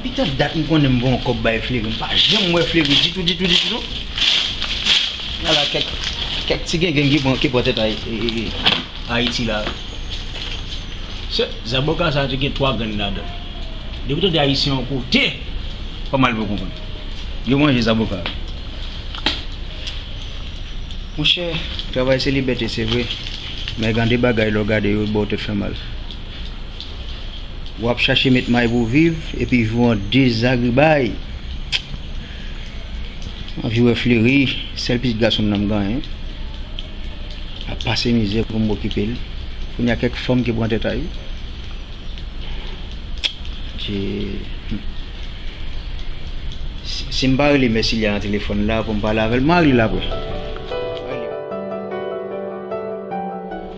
Depi tank dat m konnen m von kòb bay Flery m pa janm wè Flery ditou ditou ditou non gen la kèk kèk ti gengenn ki pran ki pran tèt Ayiti la se zaboka sa te gen 3 grenn ladann depi w tande ayisyen yon kote pa mal pou w konprann yo manje zaboka monchè travay se libète se vre men gen de bagay lè w gade yo ba w tèt fè mal. Ou ap chache met may pou viv epi vi w an dezagribay. M anvi wè Fleri, sèl pitit gason m nan m ganyen, ap pase mizè pou m okipe l. Kounye a kèk fanm ki pran tèt a li. Adye. Si m pa rele mè Silya nan telefòn la pou m pale avè l, m a rele l apre.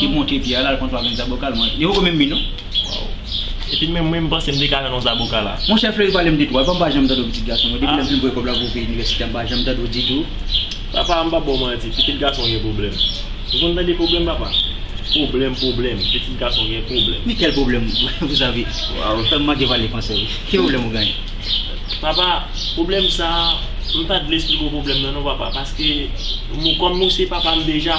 Li monte pye a lal pran 3 grenn zaboka al manje. Li poko menm mi non. Waww epi menm mwen m panse m te ka jwenn yon zaboka la. Monchè Fleury pale m de twa epa m pa janm tande w pitit gason mwen depi lè m fin voye kòb la pou peyi inivèsite an m pa janm tande w ditou. Papa m pa ba w manti pitit gason gen pwoblèm ou konn tande pwoblèm papa pwoblèm pwoblèm pitit gason gen pwoblèm. Men kèl pwoblèm vous avez ou fè m manke pale fransè wi ki pwoblèm ou genyen. Papa pwoblèm sa m pa vle esplike w pwoblèm nan non papa paske kòm ou se papa m deja.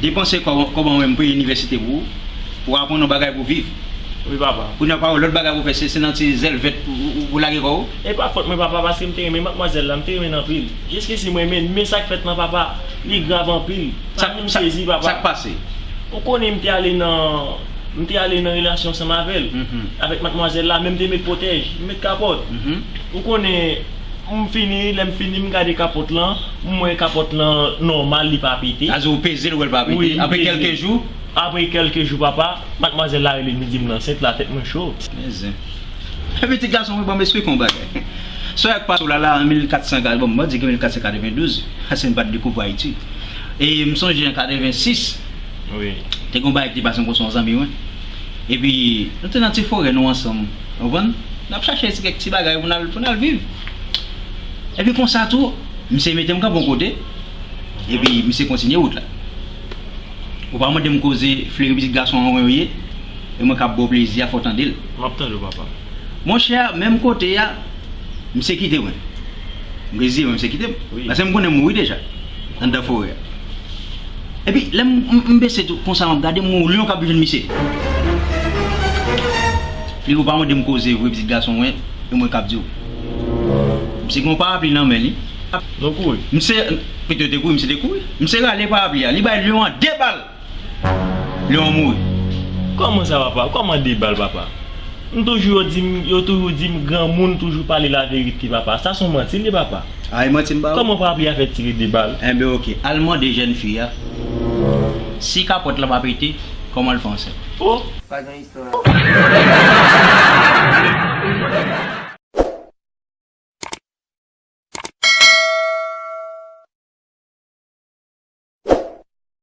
Depanse kòb an wèm pou inivèsite pou ou, pou aprann yon bagay pou viv. Wi papa. Kounye a pa wè lòt bagay pou fè se nan ti zèl vèt ou lage kò ou. E pa fòt mwen papa paske m te renmen matmwazèl la, m te renmen l anpil. Jiskisi m renmen l men sa k fèt lan papa, li grav anpil. Fanmi m sezi papa. Sa k pase? Ou konnen m te ale nan, m te ale nan relasyon ansanm avè l, avèk matmwazèl la men m te met pwotèj, m met kapòt. Ou konnen. M fini lè m fini m gade kapòt lan m wè kapòt lan nòmal li pa pete. Sa di ou peze l ou wè l pa pete apre kèlke jou? Wi m peze l apre kèlke jou papa madmwazèl la rele m li di m l ansent la tèt mwen cho. Men zen yon pitit gason wi bon m esplike w yon bagay Sòy ak Pasou Lala an 1400 gade bon m pa di ke 1492 paske m pa t dekouvri Ayiti e m sonje an 86 te gen yon bagay ki te pase m konn se yon zanmi mwen epi nou te nan ti forè nou ansanm Ou konprann? N ap chache ti kèk ti bagay pou n al viv. Epi konsa tou, misye mete m kanpe yon kote, epi misye kontinye wout la. Ou pa mande m koze fleri pitit gason an yo ye, e mwen k ap ba w plezi a fè w tande l. M ap tande w papa. Monchè, menm kote a, misye kite mwen. M reziye mwen misye kite m. Paske m konnen m mouri deja, anndan forè a. Epi lè m bese tou konsa map gade m wè yon lyon kap jwenn misye. Li ou pa mande m koze vre pitit gason mwen e mwen kap diw. Misye gen yon parapli nan men li. Nou kouri. Misye pito yo te kouri misye te kouri. Misye rale parapli a li bay lyon an 2 bal. Lyon an mouri. Kòman sa papa? Kòman 2 bal papa? M toujou yo dim yo toujou dim granmoun toujou pale laverite papa sa son manti li ye papa? Ay manti m ba ou. Kòman papi a fè tire 2 bal. Enben ok, al mande jèn fi a si kapòt la pa pete, kòman l fè ansent. Oh! Pa gen istwa la la.